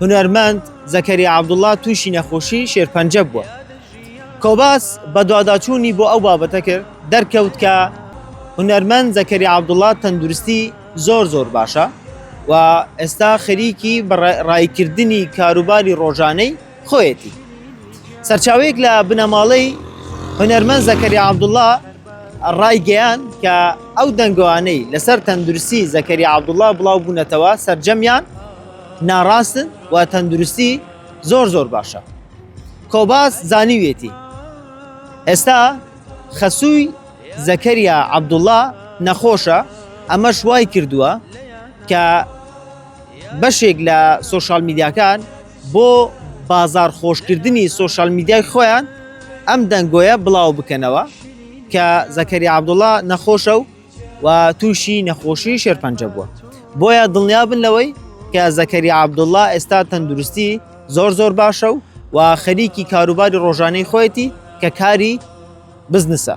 هونەرمەند زەکەریا عەبدوڵڵا تووشی نەخۆشی شێرپەنجە بووە. کۆباس بەدواداچوونی بۆ ئەو بابەتە کرد، دەرکەوت کە هونەرمەند زەکەریا عەبدوڵڵا تەندروستی زۆر زۆر باشە و ئێستا خەریکی ڕاییکردنی کاروباری ڕۆژانەی خۆیەتی. سەرچاوەیەک لە بنەماڵەی هونەرمەند زەکەریا عەبدوڵڵا ڕایگەیاند کە ئەو دەنگۆانەی لەسەر تەندروستی زەکەریا عەبدوڵڵا بڵاوبوونەتەوە سەرجەمیان ناڕاستن و تەندروستی زۆر زۆر باشە. کۆباس زانیویەتی، ئێستا خەسووی زەکەریا عەبدوڵڵا نەخۆشە، ئەمەش وایکردووە کە بەشێک لە سۆشیال میدیاکان، بۆ بازاڕ خۆشکردنی سۆشیال میدیای خۆیان ئەم دەنگۆیە بڵاو بکەنەوە کە زەکەریا عەبدوڵڵا نەخۆشە و و تووشی نەخۆشی شێرپەنجە بووە بۆیە دڵنیابن لەوەی کە زەکەریا عەبدوڵڵا ئێستا تەندروستی زۆر زۆر باشە و و خەریکی کاروباری ڕۆژانەی خۆیەتی کە کاری بزنسە